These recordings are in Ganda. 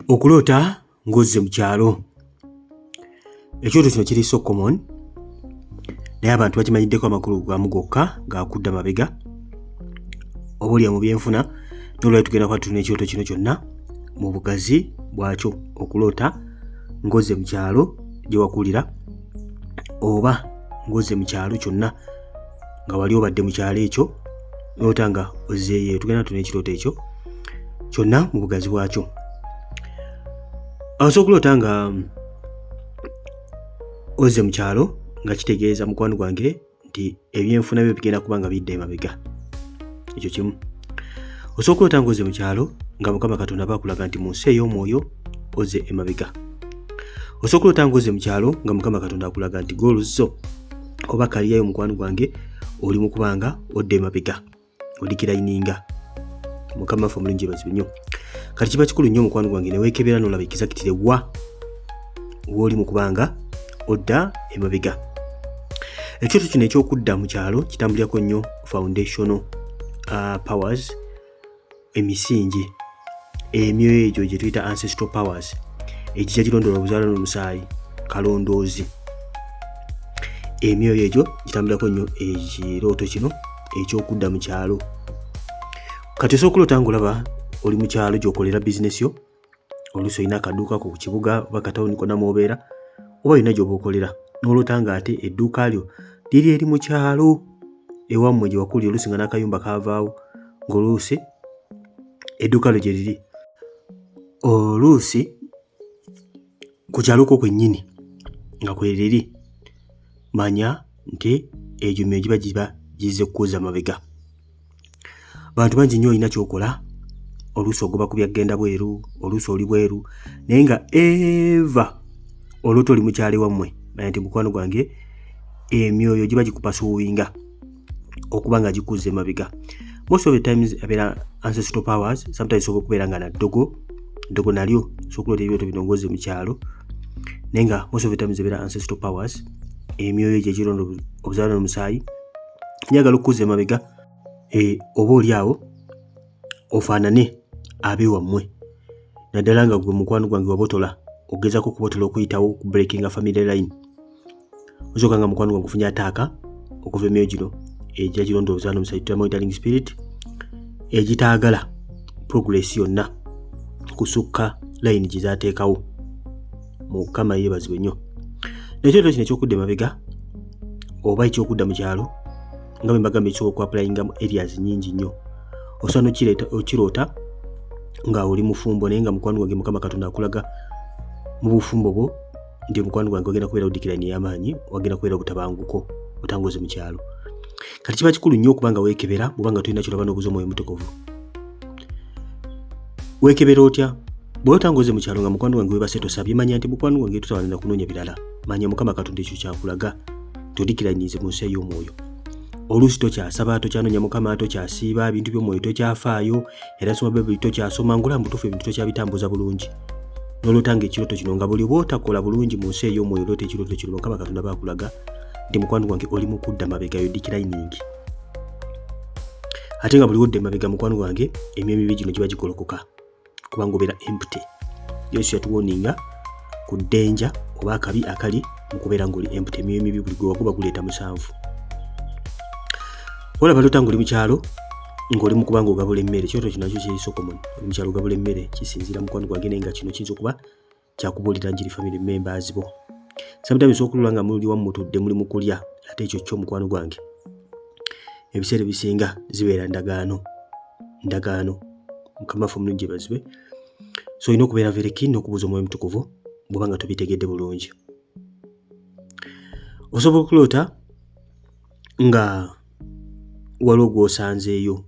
okuloota ng'ozze mu kyalo ekyoto kino kiri so common naye abantu bakimanyiddeko amakulu gamu gokka gaakudda mabega oba olya mu byenfuna nolwali tugenda kuba tulina ekyoto kino kyonna mu bugazi bwakyo okuloota ng'ozze mu kyalo gye wakulira oba ng'ozze mu kyalo kyonna nga wali obadde mu kyalo ekyo noota nga ozzeeyo tugenda tuna ekirooto ekyo kyonna mu bugazi bwakyo aosa okuloota nga mm, ozze mu kyalo nga kitegeeza mukwano gwange nti ebyenfuna byo bigenda kuba nga bidda emabega ekyo kimu osobola okulota nga ozze mu kyalo nga mukama katonda bakulaga nti mu nsi ey'omwoyo ozze emabega osobola okulota nga ozze mu kyalo nga mukama katonda akulaga nti gooluzo oba kaliyayo mukwano gwange oli mukubanga odda emabega odikirayininga mukama ffe omulungi ebazibwe nnyo kati kiba kikulu nnyo omukwano gwange newekebera nolaba ekizakitire wa wooli mu kubanga odda emabega ekyoto kino ekyokudda mu kyalo kitambulirako nnyo foundational uh, powers emisingi emyo egyo gye tuyita ancestral powers egija girondoola obuzaala n'omusaayi kalondoozi emyoyo egyo gitambulirako nnyo ekirooto kino ekyokudda mu kyalo kati osooka okuloota ngaolaba oli mu kyalo gyokolera bizinesi yo oluusi olina akaduuka ko ku kibuga oba katawuni kona mwobeera oba olina gyoba okolera noloota nga ate edduuka lyo liri eri mu kyalo ewammwe gye wakulira oluusi nga n'akayumba kaavaawo ng'oluusi edduuka lyo gye liri oluusi ku kyalo kwo kwennyini nga kwereri manya nti egyo myoyo giba giba gizze kukuuza mabega bantu bangi nnyo olina kyokola oluusi ogoba ku byaggenda bweru oluusi oli bweru naye nga eva oluuti oli mukyale wammwe naye nti mukwano gwange emyoyo giba gikupasuuwinga okuba nga gikuza emabega most of the times abeera ancestral powers sometimes sobola okubeera nga naddogo ddogo nalyo sokuloota ebyoto binongozi mu kyalo naye nga most of the times ebeera ancestral powers emyoyo gyegironda obuzaala nomusaayi njagala okukuza emabega eh, oba oli awo ofaanane abe wammwe naddala nga gwe mukwano gwange wabotola ogezako okubotola okuyitawo ku breakinga family line osoka nga mukwano gwange ofunye ataaka okuva emyoyo gino egya kirondooza nomusajjutamonitaling spirit egitaagala progress yonna kusukka layini gye zaateekawo mukama yeebazibwe nnyo nekyo leero kino ekyokudda emabega oba ekyokudda mu kyalo nga bwe mbagamba ekisobola okuapulayinga mu areas nyingi nnyo osobola nokireeta okiroota nga oli mufumbo naye nga mukwano gwange mukama katonda akulaga mu bufumbo bwo nti omukwano gwange wagenda kubeera odikirani ey'amaanyi wagenda kubeera obutabanguko otangoze mu kyalo kati kiba kikulu nnyo okuba nga weekebera oba nga tolina kyolaba n'obuza omwoyo mutukuvu weekebera otya bwoba otangoze mu kyalo nga mukwano gwange webase tosabye manya nti mukwano gwange tutawanira kunoonya birala manya mukama katonda ekyo kyakulaga todikiranyinze mu nsi ey'omwoyo oluusi tokyasaba tokyanoonya mukama tokyasiiba ebintu by'omwoyo tokyafaayo era soma bayibuli tokyasoma ngula mubutuufu ebintu tokyabitambuza bulungi nolotanga ekirooto kino nga buli bwotakola bulungi mu nsi ey'omwoyo oloota ekirooto kino mukama katonda bakulaga nti mukwano gwange oli mu kudda mabegayo dikirainingi ate nga buli wodda emabega mukwano gwange emyoyo mibi gino giba gikolokoka kubanga obeera empty yesu yatuwoninga ku ddenja oba akabi akali mu kubeera ngaoli empty emyoyo emibi buli gwe waguba guleeta musanvu olaba lota ngaoli mukyalo ngaoli mukuba nga ogabula emmere kyoto kinakyo kyeyisokomon oli mukyalo ogabula emmere kisinziira mukwano gwange naye nga kino kiyinza okuba kyakubuulira njiri family members bo sometimes okulula nga muli wamu mutudde muli mukulya ate ekyo kyo mukwano gwange ebiseera ebisinga zibeera ndagaano ndagaano mukama ffe omulungi ebazibwe so olina okubeera vereki n'okubuuza omwoyo mutukuvu bwoba nga tobitegedde bulungi osobola okuloota nga waliwo gw'osanzeeyo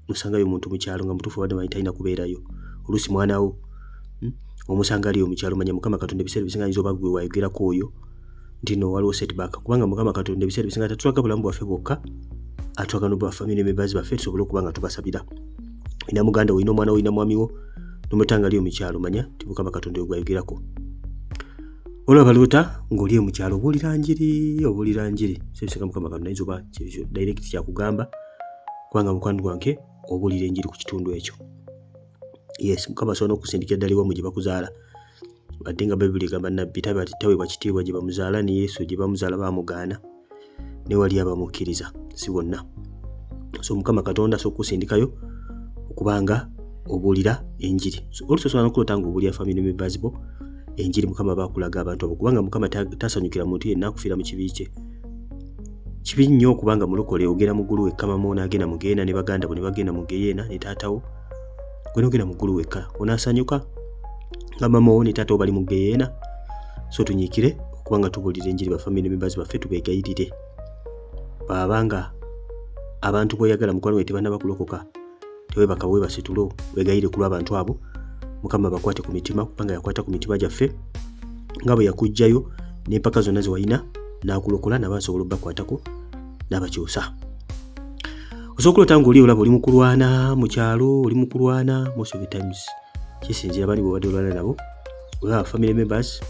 nosangayo omuntu mukyalo nga mutuufu abadde amanyi talina kubeerayo oluusi mwana wo hmm? omusanga aliyo mukyalo manya mukama katonda ebiseera ebisinga ayinza oba gwe wayogerako oyo nti no waliwo setback kubanga mukama katonda ebiseera ebisinga tatulaga bulamu bwaffe bwokka atulaga no bafamily members baffe tusobole okuba nga tubasabira ina muganda olina omwana olina mwami wo nomutanga aliyo mukyalo manya ti mukama katonda ogwayogerako olaba lota ng'oli e mukyalo obuulira njiri obuulira njiri sebiseka mukama katonda ayinza oba kyekyo direct kyakugamba kubanga mukwano gwange obuulira enjiri ku kitundu ekyo yes mukama asobola n'okusindikira ddala iwamu gye bakuzaala wadde nga bayibuli egamba nabbi taweebwa kitiibwa gye bamuzaala ne yesu gye bamuzaala bamugaana ne wali abamukkiriza si bonna so mukama katonda asobola okusindikayo okubanga obuulira enjiri olusosobola nokulota nga obuulira family members bo enjiri mukama bakulaga abantu abo kubanga mukama tasanyukira muntu yenna akufiira mu kibi kye kibi nnyo okubanga mulokole ogenda mu ggulu wekkama mwonaagenda mugenda ne baganda bo ne bagenda mu geyeena ne taatawo gwenogenda mukulu wekka onasanyuka nga mama wo ne taata obali mu geyeena so tunyikire okuba nga tubuulira enjiri bafamily members baffe tubegayirire bwaba nga abantu boyagala mukwano we tebanaba kulokoka tewebaka webase tulo wegayire kulwa abantu abo mukama bakwate ku mitima kubanga yakwata ku mitima gyaffe nga bwe yakugjayo n'empaka zonna zewalina n'akulokola naba asobola obakwatako n'abakyusa osobola okulota nga oli olaba oli mukulwana mu kyalo oli mukulwana most of the times kisinzira bani bwebadde olwana nabo oba family members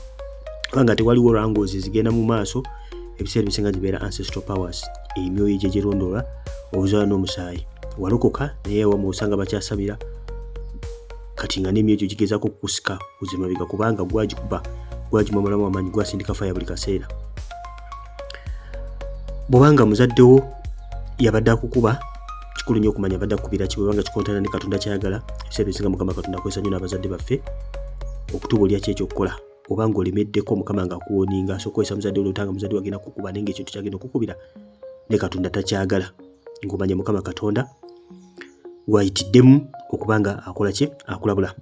oba nga tewaliwo rangozi zigenda mu maaso ebiseera ebisinga zibeera ancestral powers emyoyo egyo egirondoola obuzala n'omusaayi walokoka naye wamu osanga bakyasabira kati nga n'emyoyo egyo gigezaako okukusika kuzimabega kubanga gwagikuba gwagimamulamu amaanyi gwasindika faya buli kaseera bwobanga muzaddewo yabadde akukuba kikulu nnyo okumanya abadde akukubira ki bwebanga kikontana ne katonda kyayagala ebiseera byosinga mukama katonda akozesa nnyo n'abazadde baffe okutubuulira ki ekyokukola oba ngaolemeddeko mukama nga akuwoninga so okozesa muzadde olotanga muzadde wagenda kukuba naye ngaekintu kyagenda okukubira ne katonda takyagala ngaomanya mukama katonda gwayitiddemu okuba nga akola ki akulabula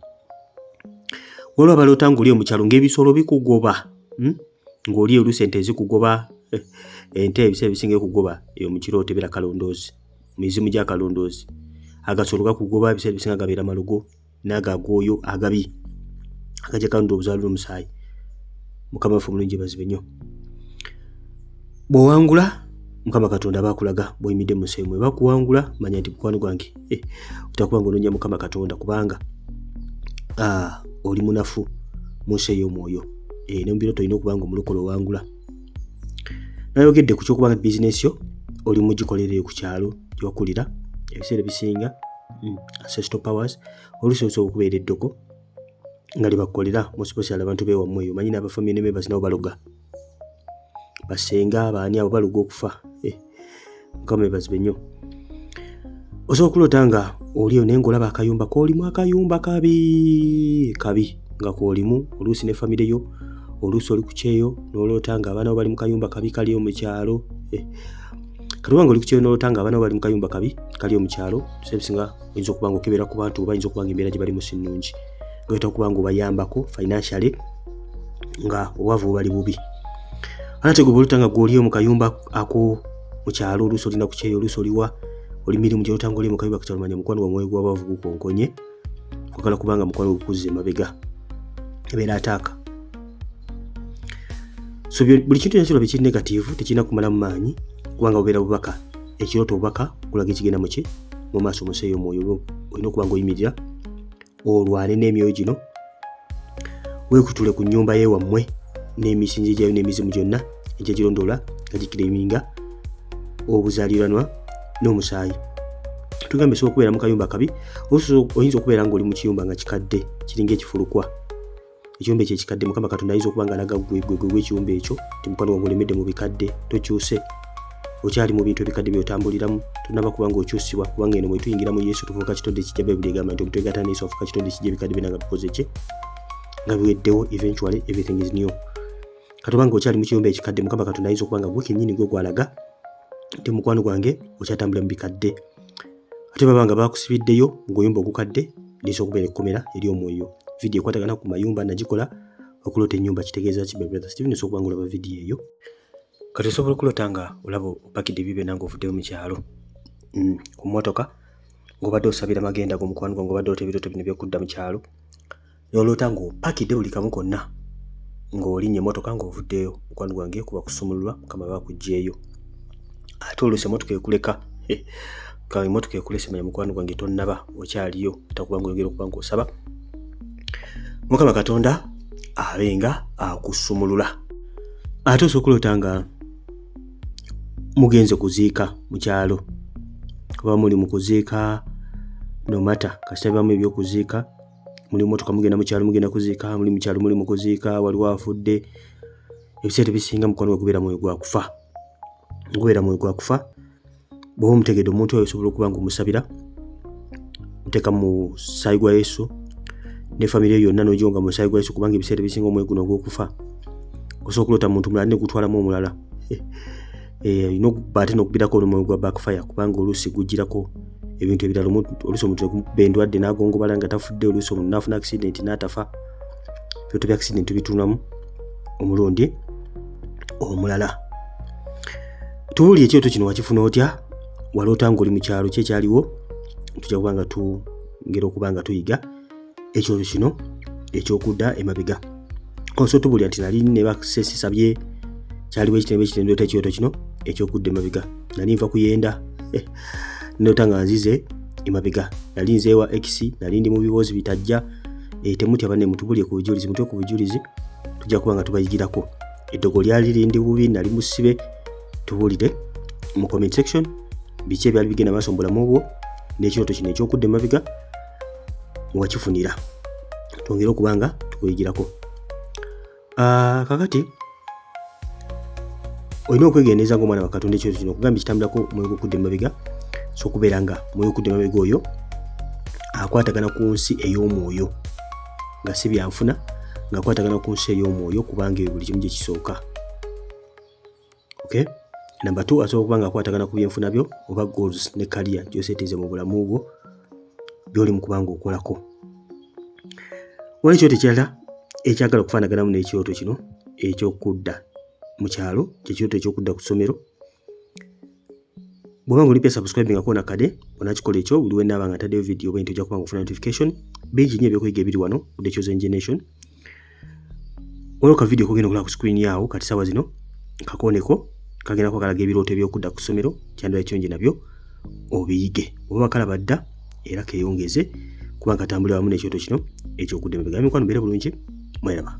waliwo abaloota ngaoli omukyalo ngaebisolo bikugoba hmm? ng'oli eyo oluusi ente zikugoba ente ebiseera ebisinga ekugoba eyo mu kirooto ebeera kalondoozi mizimu gya kalondoozi agasolo gakugoba ebiseera ebisinga gabeera malogo naago agooyo agabi agajja kalonda obuzaala omusaayi mukama waffe omulungi bazibe nnyo bw'owangula mukama katonda aba akulaga bw'oyimidde mu nsi emwe bakuwangula manya nti mukwano gwange eh, otakuba nga onoonya mukama katonda kubanga ah, oli munafu mu nsi ey'omwoyo eh, ne mu biro tolina okuba nga omulokola owangula nayogedde ku kyokuba nga bizinesi yo oli mugikolereyo ku kyalo gyokulira ebiseera ebisinga mm, ancestral powers oluusi osobola okubeera eddoko nga lyebakukolera musiposiala abantu bewamu eyo manyi nabafamiy nemebasinawo baloga basenga abaani abo baluga okufa eh, mukama ebazibe nnyo osobola okuloota nga oliyo naye ngaolaba akayumba kolimu akayumba kabi kabi nga kolimu oluusi ne famire yo oluusi oli ku kyeyo noloota nga abaana bo bali mu kayumba kabi kaliyo mu kyalo eh, katuba nga oli ku kyeyo noloota nga abaana bo bali mu kayumba kabi kaliyo mu kyalo sebisinga oyinza okuba nga okebera ku bantu oba yinza okuba nga embeera gye balimu si nnungi gayita okuba nga obayambako financially nga obwavu bubali bubi anate gwe bwoluta nga gwoli omu kayumba ako mukyalo oluusi olina kukyeyo oluusi oliwa oli mirimu gyoluta nga oli mu kayumba kakyalumanya mukwano gwamwoyo gwabavu gukonkonye kwagala kubanga mukwano gukuzza emabega ebeera ataaka so buli kintu kyona kirabye kiri negativu tekirina kumalamu maanyi kubanga bubeera bubaka ekirooto obubaka kulaga ekigenda muki mu maaso museeyo omwoyo olina okuba nga oyimirira olwane n'emyoyo gino weekutule ku nnyumba ye wammwe n'emisingi gyayo n'emizimu gyonna egyagirondoola nga gikireminga obuzaaliranwa n'omusaayi tugambye osobola okubeera mu kayumba kabi oyinza okubeera ng'oli mu kiyumba nga kikadde kiringa ekifulukwa ekiyumba ekyo ekikadde mukama katonda ayinza okuba nga alaga gwe gwe gwe ekiyumba ekyo ti mukwano wange olemedde mu bikadde tokyuse okyali mu bintu ebikadde byotambuliramu tonaba kuba nga okyusibwa kubanga eno mwetuyingira mu yesu tufuuka kitodde ekijja bayibuli egamba nti omuntu egata neyesu afuuka kitodde ekijja ebikadde byona nga bikoze kye nga biweddewo eventually everything is new katoba nga okyali mu kiyumba ekikadde mukama katonda ayinza okuba nga gwe kenyini gwe gwalaga nti mukwano gwange okyatambulira mu bikadde ate baba nga bakusibiddeyo ng'oyumba ogukadde ndisa okubeera ekkomera eri omwoyo vidiyo ekwatagana ku mayumba nagikola okuloota ennyumba kitegeeza ki brother steven osobola okubanga olaba vidiyo eyo kati osobola okuloota nga olaba opakidde bibe nange ovuddeyo mu kyalo mm, ku mmotoka ng'obadde osabira magenda g'omukwano gwa ng'obadde ota ebirooto bino byokudda mu kyalo n'oloota ng'opakidde buli kamu konna ng'olinya emmotoka ng'ovuddeyo mukwano gwange kuba kusumululwa mukama bakuggyeyo ate oluusi emmotoka ekuleka emmotoka ekulese manya mukwano gwange tonnaba okyaliyo takuba nga oyogera okuba ng'osaba mukama katonda abe nga akusumulula ate osooka oloota nga mugenze kuziika mu kyalo kuba muli mu kuziika nomata kasitabamu ebyokuziika muli motoka mugenda mukyalo mugenda kuziika muli mukyalo muli mukuziika waliwo afudde ebiseera ebisinga mukwano gwe gubeera mwoyo gwakufa gubeera mwoyo gwakufa bwoba omutegedde omuntu oyo osobola okuba nga omusabira oteeka mu saayi gwa yesu ne famire yo yonna nojo nga musaayi gwa yesu kubanga ebiseera ebisinga omwoyo guno ogwokufa osobola okuloota muntu mulala negutwalamu omulala eh, olina okuba ate nokubirako olumwoyo gwa backfire kubanga oluusi gujirako ebintu ebirala oluusi omuntu nekuba endwadde nagongobala nga tafudde oluusi omuntu nafuna accident natafa ebintu bya accident tubitunamu omulundi omulala tubuli ekyoto kino wakifuna otya waloota ngaoli mukyalo kyekyaliwo tuja kuba nga tugera okuba nga tuyiga ekyonyo kino ekyokudda emabega oso tubulya nti nali ne baksesisabye kyaliwo ekitembe ekitendo ta ekyoto kino ekyokudda emabega nali nva kuyenda eh, nota nga nzize emabega nali nzeewa x nali ndi mu biboozi bitajja eh, temutya bane mutubulye ku bujulizi mutwe ku bujulizi tujja kuba nga tubayigirako eddogo lyali lindi bubi nali musibe tubulire mu comment section biki ebyali bigenda maaso mu bulamu obwo n'ekyoto kino ekyokudda emabega wakifunira twongere okuba nga tukuyigirako ah, kakati olina okwegendereza nga omwana wakatonda ekyo kino okugamba ekitambulako mwoyo gwokudda emabega so okubeera nga mwoyo okudda emabega oyo akwatagana ku nsi ey'omwoyo nga si byanfuna ngaakwatagana ku nsi ey'omwoyo kubanga ebyo buli kimu gye kisooka okay number 2 asobola kuba nga akwatagana ku byenfuna byo oba goals ne career gyosetinze mu bulamu bwo byoli mu kubanga okolako wali ekyoto ekirala ekyagala okufaanaganamu n'ekyoto kino ekyokudda mu kyalo kyekyoto ekyokudda ku ssomero Bw'oba nga olipya subscribe nga koona kade onakikola ekyo buli wenaaba nga ntaddeyo video bwe nti ojja kuba nga ofuna notification bingi nnyo ebyokuyiga ebiri wano ku The Chosen Generation waliwo ka video kogenda okulaba ku screen yaawo kati saawa zino kakooneko kagenda kuba kalaga ebirooto ebyokudda ku ssomero kyandibala kirungi nabyo obiyige oba bakalaba dda era keyongeze kuba nkatambulira wamu n'ekyoto kino ekyokudda emabega mikwano mbeera bulungi mweraba